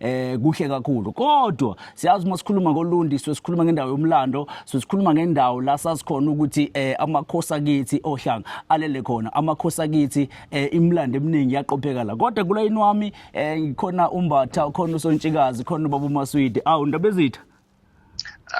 eh kuhle kakhulu kodwa siyazi uma sikhuluma ngolundi sikhuluma ngendawo yomlando sikhuluma ngendawo la sasikhona ukuthi eh amakhosi akithi ohlanga alele khona amakhosi akithi eh imlando eminingi yaqopheka la kodwa kula inwami eh ngikhona umbatha khona usontshikazi khona baba umaswidi awu ndabezitha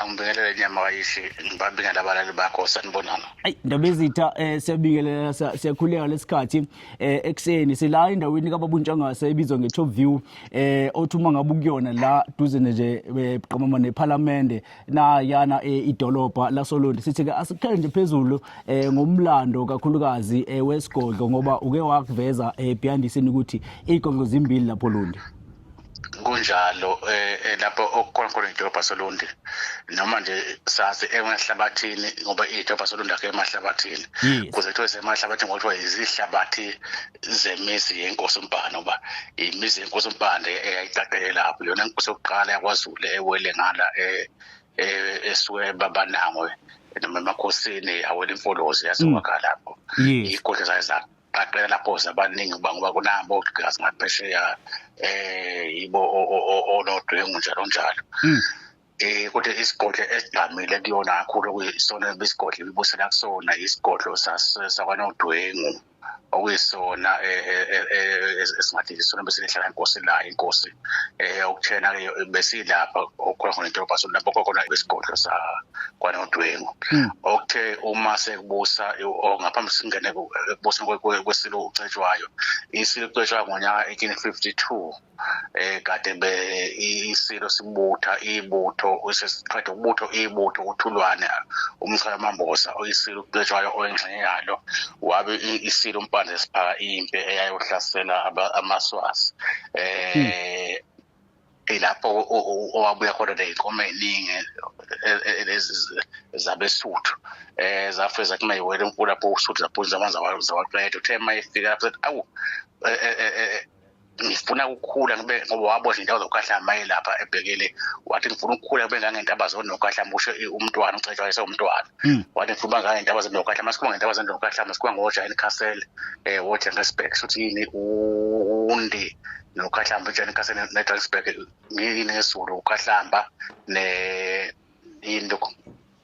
angibingelele nyama kayishi ngibabingelela abalali bakho sanibonana ayi ndaba ezitha um eh, siyabingelela siyakhuleka lesikhathi um eh, ekuseni sila endaweni kababuntshangase ebizwa nge-top view um eh, othi uma ngabe ukuyona la duze nje qamama nephalamende nayana idolobha lasolondi sithi-ke asikhele nje phezulu um ngomlando kakhulukazi um wesigodlo ngoba uke wakuveza um behind isini ukuthi iy'godlo zimbili lapho lundi kunjalo eh, eh lapho okukhona khona idolobha solundi noma nje sazi emahlabathini ngoba idolobha solundi akhe emahlabathini kuze kuthiwe semahlabathini ngoba kuthiwa izihlabathi zemizi yenkosi umbhane uba imizi yenkosi umbhane eyayiqaqele lapho yona inkosi yokuqala yakwazulu ewele ngala eh, eh, esuke babanangwe noma emakhosini awela imfolozi yaziwakha lapho iy'godla zayo zakho qaqela lapho zabaningi uba ngoba kunabo gazi ngaphesheya eh yibo onodwengu njalo njalo hmm. eh kodwa isigodlo esigqamile kuyona kakhulu kuyisona besigodlo ibusela kusona isigodlo sakwanodwengu okuyisona eh, eh, eh, esingathi isona bese lihlala inkosi la inkosi eh okuthena ke besilapha okhona nedolobha so lapho khona besigodlo sa kwanodwengu hmm. okuthe uma sekubusa ngaphambi singene kubusa kwesilo ucetshwayo isilo ucetshwa ngonyaka 1852 eh kade be isilo sibutha ibutho usesiqeda ukubutho ibutho uthulwane umchaya mambosa oyisilo Cetshwayo oyingxenye yalo wabe isilo umpande esiphaka impi eyayohlasela amaswazi um ilapho owabuya khona neyinkomo eyiningi zabesuthu um zafike zathi ma yiwela enkulu lapho usuthu zaphunza amanzi zawaqeda uthe ma efika lapho sethi awu ngifuna ukukhula ngibe ngoba wabo izindawo zokukhahla maye lapha ebhekele wathi ngifuna ukukhula kube ngangentaba zonokhahla musho umntwana ucetshwa ese umntwana hmm. wathi ngifuna uba ngangentaba zonokhahla masikhuma ngentaba zonokhahla masikhuma ngojani castle eh wojengesburg sothi yini undi nokhahlamba ujani castle nedragsburg ngiyini ngesulu ukhahlamba ne yini lokho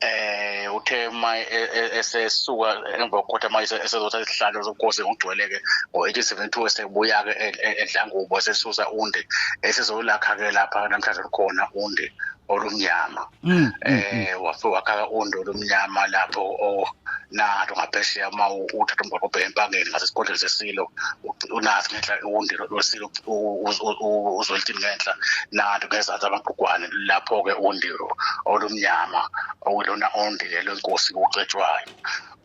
eh uthe uma e, e, esesuka emva kokuthi ama esezotha isihlalo sobukhosi ngokugcweleke ngo-1872 esebuya-ke e, edlangubo esesusa undi esizolakha-ke lapha namhlanje lukhona undi olumnyama mm, mm, eh mm. wafe wakhaka undi olumnyama lapho nato ngaphesheya uma uthatha umgwaqo obheke empangeni ngasesigodlweni sesilo unathi ngenhla undi lwesilo uzolitini ngenhla nanto ngezathi amaqugwane lapho-ke undi olumnyama okulona undi lelo nkosi kucetshwayo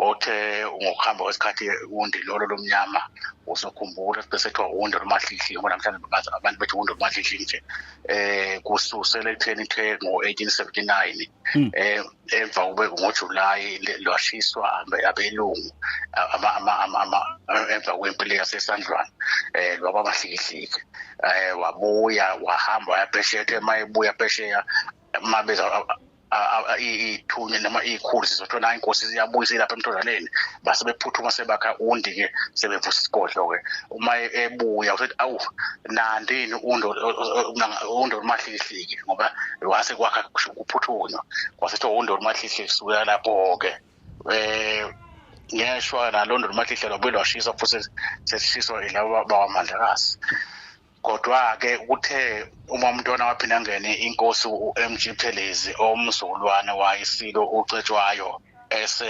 othe ngokuhamba kwesikhathi undi lolo lomnyama usokhumbula bese kuthiwa undi olumahlihli ngoba namhlanje abantu bethi undi olumahlihli nje um kususela ekutheni kuthe ngo-eighteen seventy nine um emva kube ngojulayi lwashiswa abelungu emva kwempilo yasesandlwana um lwaba bahlikihliki um wabuya wahamba wayaphesheya uthe uma ebuya phesheya uma beza iy'thunywe noma iy'khulu sizothola inkosi ziyabuya ilapha emthonzaneni base bephuthuma sebakha undi-ke sebevusa isigodlo-ke uma ebuya usethi awu nandi yini undo olumahlihlihliki ngoba wase kwakha kuphuthunywa kwasethi undo olumahlihlihliki sukuya lapho-ke um ngeshwa nalo ndo olumahlihla lwabuye lwashiswa futhi sesishiswa ilaba bakwamandlakazi kodwa-ke kuthe uma umntwana waphinde angene inkosi u-m g phelezi omzukulwane wayisilo ucetshwayo ese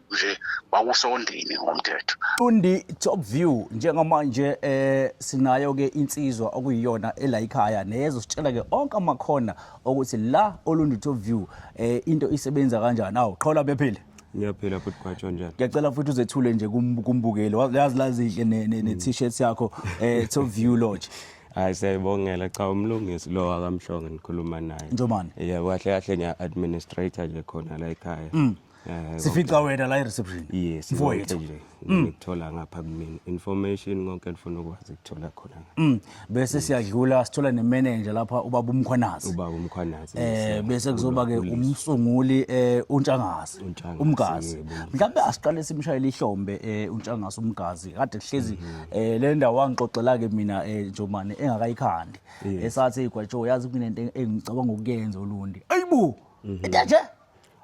nje bakusondini ngomthetho Tundi top view njengoba nje eh sinayo ke insizwa okuyiyona elayikhaya neyezo sitshela ke onke amakhona ukuthi la olundi top view eh into isebenza kanjani awu qhola bephile ngiyaphila futhi kwatsho njani ngiyacela futhi uzethule nje kumbukeli yazi lazihle ne-t-shirt mm. yakho eh top view lodge hayi siyayibongela cha umlungisi lo akamhlonge nikhuluma naye njomani yebo kahle kahle ngiya-administrator nje khona la ekhaya mm. Eh, sifica wena la e-reception yes mfowethu nje mm. ngikuthola ngapha kumina information konke ndifuna ukwazi ukuthola khona mm. bese siyadlula sithola nemanager lapha ubaba umkhwanazi ubaba umkhwanazi eh bese kuzoba ke umsunguli eh untshangasi umgazi mhlawumbe asiqale simshayele ihlombe eh untshangasi umgazi kade kuhlezi mm-hmm. eh le ndawo wangixoxela ke mina eh Njomane engakayikhandi esathi igwatsho yazi kunento engicabanga ukuyenza olundi ayibo mm-hmm. into nje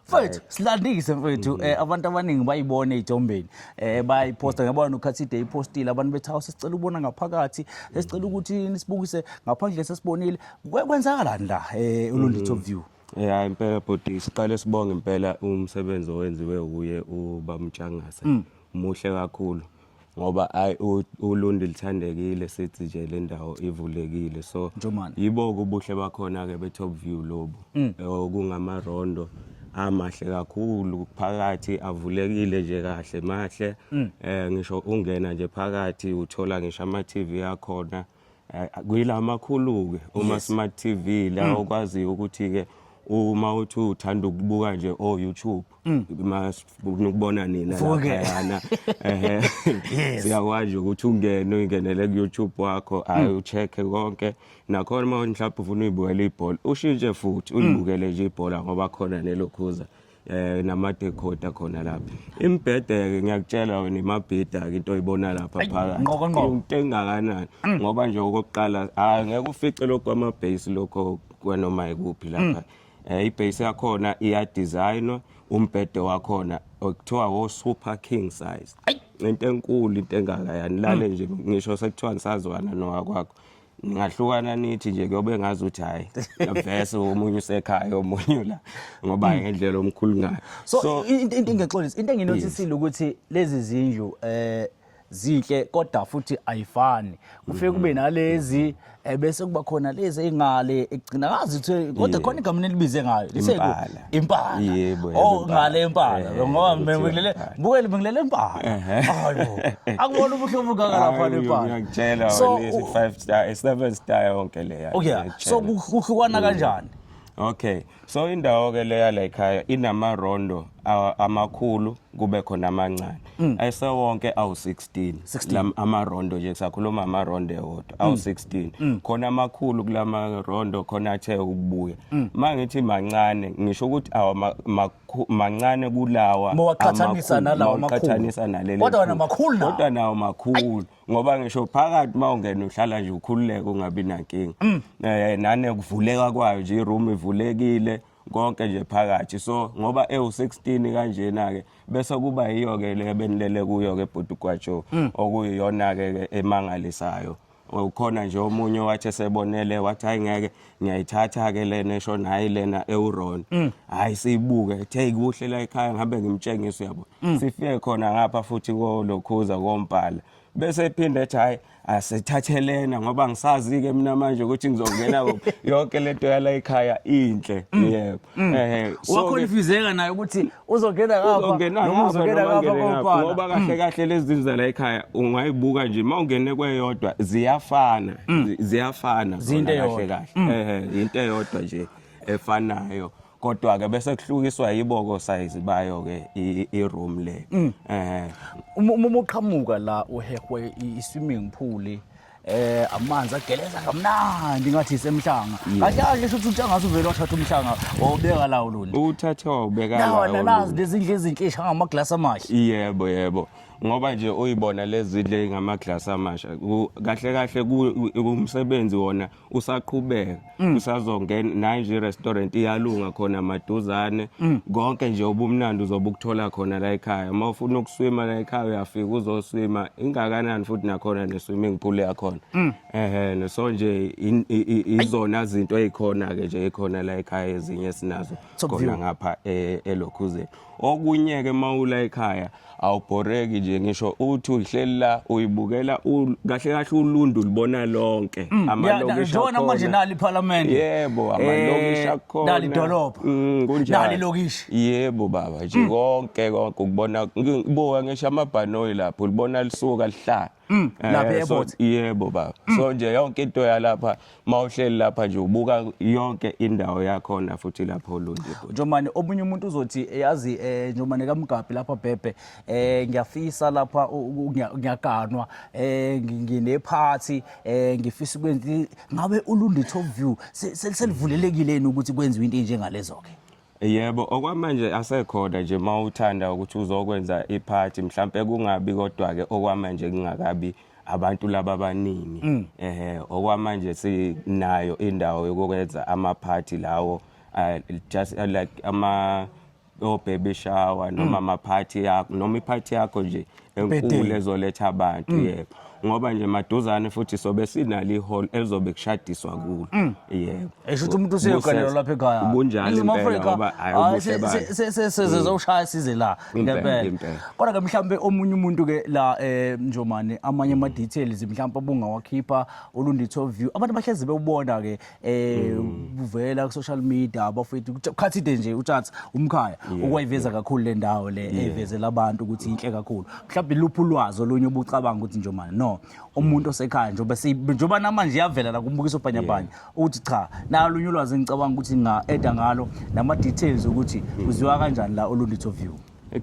mfethu silandise mfethu um abantu abaningi bayibone ey'thombeni um eh, bayiphosta ngiyabona nokhathide ipostile abantu bethi hawu sesicela ukubona ngaphakathi sesicela ukuthi nisibukise ngaphandle sesibonile kwenzakalani la um ulundi top view Eh hayi impela bhuti siqale sibonge impela umsebenzi owenziwe uye ubamtshangase. Mm. Muhle kakhulu. ngoba ayi u- ulundi lithandekile sithi nje le ndawo ivulekile so Njomane. yibo-ke ubuhle bakhona-ke be-top view lobu Mm. Eh, okungamarondo amahle kakhulu phakathi avulekile nje kahle mahle Mm. um ngisho ungena nje phakathi uthola ngisho ama-tv akhona Eh, kuyila makhulu-ke uma yes. smart tv la mm. okwaziyo ukuthi-ke uma uthi uthanda ukubuka nje o-youtube mm. nokubona nina laphayana siyakwazi ukuthi ungene uyingenele ku-youtube wakho hayi mm. ucheck-e konke nakhona uma mhlawumbe ufuna uyibukela ibhola ushintshe futhi mm. ulibukele nje ibhola ngoba khona nelokhuza eh namadekhoda khona lapha imbhedeke ngiyakutshela wena imabhida ke into oyibona lapha phakathi nqoko nqoko. into engakanani ngoba nje okokuqala hayi ngeke ufice lokho kwama base lokho kwanoma ikuphi lapha eh ibase yakhona iya designwa umbhede wakhona okuthiwa wo super king size into enkulu into engaka yani lale nje ngisho sekuthiwa ngisazwana nowakwakho ningahlukana nithi nje kuyobe ngazi ukuthi hayi vese omunye usekhaya omunye ula ngoba hmm. ngendlela omkhulu ngayo so into engixolisa into enginotisile ukuthi lezi zindlu eh zinhle kodwa futhi ayifani kufike kube mm-hmm. nalezi eh, bese kuba khona lezi ingale egcina ngazi ukuthi kodwa khona igama nelibize ngayo impala yebo oh ngale impala eh, ngoba ngilele bukele ngilele impala hayo akubona ubuhlobo kaka lapha impala ngiyakutshela lezi 5 star 7 eh, star yonke leya okay so kuhlukana mm. kanjani okay so indawo ke leya la ekhaya inama rondo amakhulu kube khona amancane Mm. ayesewonke awu-16 Lam- amarondo nje kusakhuluma amarondo ewodwa awu-16 Mm. khona amakhulu kula marondo khona athe ukubuya Mm. ma ngithi mancane ngisho ukuthi awa ma- makhu- mancane kulawa Mowaqhathanisa amakhulu, nalawa makhulu. mawaqhathanisa naleli Kodwa wena khulu. makhulu nawo. kodwa nawo makhulu ngoba ngisho phakathi ma ungena uhlala nje ukhululeke ungabi nankinga Mm. um nane kuvuleka kwayo nje iroom ivulekile konke nje phakathi so ngoba ewu16 kanjena ke bese kuba yiyo ke le benilele kuyo ke bhuti kwacho mm. okuyiyona ke emangalisayo ukhona nje omunye wathi sebonele wathi hayi ngeke ngiyayithatha ke lena esho nayi lena ewron mm. hayi siyibuke ethe kuhle la ekhaya ngabe ngimtshengisa uyabo mm. sifike khona ngapha futhi ko lokhuza kompala bese ephinda ethi hayi asithathelena ngoba ngisazi ke mina manje ukuthi ngizongena kuphi yonke lento yala ekhaya inhle mm. yebo mm. eh wakhonfizeka naye ukuthi uzongena ngapha noma uzongena ngapha kompana ngoba kahle mm. kahle lezi zinto zala ekhaya ungayibuka nje mawungene kweyodwa ziyafana ziyafana zona kahle kahle eh into eyodwa nje efanayo kodwa-ke bese kuhlukiswa yiboko sayizi bayo-ke i-room le mm. eh uma uqhamuka la uhehwe i-swimming pool eh amanzi ageleza kamnandi ngathi isemhlanga kahle kahle shuthi uthi angathi uvele wathatha umhlanga wawubeka lawo lona uthathe wawubeka lawo lona nazi lezindle ezinhle ishanga amaglasi amahle yebo yebo ngoba nje uyibona lezidle ngamaglass amasha kahle kahle umsebenzi wona usaqhubeka mm. usazongena naye nje restaurant iyalunga khona maduzane mm. konke nje ubumnandi uzobe ukuthola khona la ekhaya uma ufuna ukuswima la ekhaya uyafika uzoswima ingakanani futhi nakhona ne swimming pool yakhona mm. ehe so nje izona izinto ezikhona ke nje ekhona la ekhaya ezinye sinazo khona ngapha e, elokhuzeni Okunye-ke uma ula ekhaya awubhoreki nje ngisho uthi uhleli la uyibukela u- kahle kahle ulundu ulibona lonke Mm, Ya, na- amalokishi Njengona manje akhona. nali iphalamende. yebo amalokishi Eh, akhona Nali idolobha. Mm, kunjalo. Nali ilokishi. Mm. yebo baba nje konke konke ukubona ngibuka ngisho amabhanoyi lapho ulibona lisuka lihlala Mm, eh, lapha airport. Yebo baba. Mm. So nje yonke into yalapha mawuhleli lapha nje ubuka yonke indawo yakho na futhi lapho olundi. Njomane omunye umuntu uzothi eh, yazi eh njomane kaMgabi lapha bhebhe eh ngiyafisa lapha ngiyaganwa eh ngine party eh ngifisa ukwenza ngabe ulundi top view selivulelekile ukuthi kwenziwe into enjengalezo ke. Yebo, okwamanje asekhona nje uma uthanda ukuthi uzokwenza iphathi mhlampe kungabi kodwa-ke okwamanje kungakabi abantu laba abaningi mm. ehe okwamanje sinayo indawo yokwenza amaphathi lawo uh, just uh, like ama o baby shower noma mm. amaphathi yakho noma iphathi yakho nje enkulu ezoletha abantu mm. yebo ngoba nje maduzane futhi sobe sinalo ihall elizobe kushadiswa kulo mm. yebo eshuthi umuntu useyoganela lapha ekhaya kunjalo impela ngoba sezizowushaya size la ngempela kodwa ke mhlambe omunye umuntu ke la eh, njomane amanye ama details mhlambe obungawakhipha olunditho view abantu bahlezi bewubona ke eh kuvela ku social media abafethu ukuthi ukhathi ide nje utshatsi umkhaya ukwayiveza kakhulu le ndawo le evezela abantu ukuthi inhle kakhulu mhlawumbe luphi ulwazi olunye obucabanga ukuthi nje manje no umuntu osekhaya njengoba si- njengoba namanje iyavela la kumbukiso bhanyabhanya ukuthi cha nalunye ulwazi engicabanga ukuthi nga-eda ngalo nama-details ukuthi kuziwa kanjani la olunditho view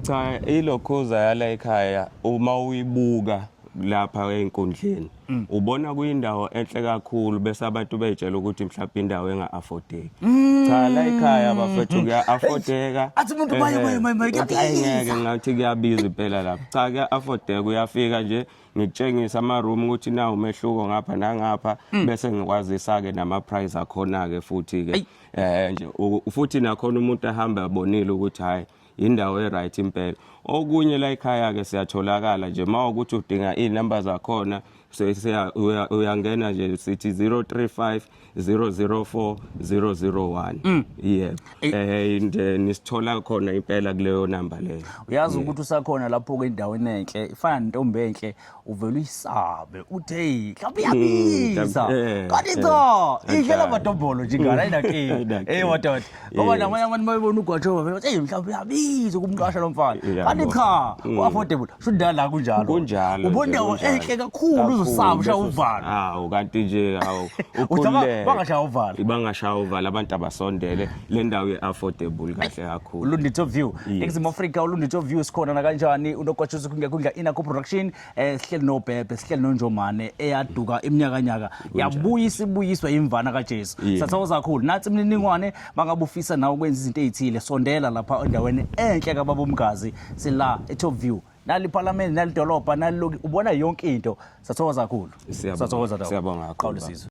Cha ilokhuza yala ekhaya uma uyibuka lapha einkundleni mm. ubona kuyindawo enhle kakhulu bese abantu beyitshela ukuthi mhlawumbe indawo enga affordeki mm. cha la ekhaya bafethu kuya affordeka athi umuntu maye maye maye maye ngeke ngathi kuyabiza impela lapha cha kuya affordeka uyafika nje ngikutshengisa ama room ukuthi na umehluko ngapha nangapha mm. bese ngikwazisa ke nama price akhona ke futhi ke eh nje futhi nakhona umuntu ahamba abonile ukuthi hayi indawo e-right impela okunye la ekhaya-ke siyatholakala nje uma ukuthi udinga iy'namba zakhona uyangena nje sithi 035 004 001 mm. yeah eh. eh and eh, nisithola khona impela kuleyo number leyo uyazi ukuthi usakhona lapho ke endaweni enhle ifana nentombi enhle uvele uyisabe uthi heyi mhlawumbe iyabiza Hmm, eh, kanti eh, cha kanjalo. idlela amadombolo nje ingane ayinakile Ayinakile. eyi wadoda ngoba Yes. namanye abantu mayebona ugwajoba vele bathi eyi mhlawumbe uyabiza ukumqasha lo mfana Yabo. kanti cha Mm. u-affordable sho ndala kunjalo kunjalo ubona nje, indawo kunjalo. enhle kakhulu Kakhulu, uzosaba ushaya bese- uvalo hawu kanti nje hawu Uthi aba- ukhululeke. bangashaya uvalo. bangashaya uvalo abantu abasondele le ndawo ye-affordable kahle kakhulu ulunditho view Yes. eningizimu afrika ulunditho view sikhona nakanjani unokwatshuza kungekundla inakho production um sihleli nobhebhe sihleli nonjomane eyaduka iminyakanyaka yabuya isibuyiswa yimvana kajesu Yeah. sathokoza kakhulu nathi imininingwane bangabe ufisa nawe ukwenza izinto ey'thile sondela lapha endaweni enhle kababa umgazi sila e-top view nali iphalamende nali dolobha nali loki ubona yonke into sathokoza kakhulu Siyabonga. sathokoza Dawu. Siyabonga kakhulu, Qhawula baba. isizwe.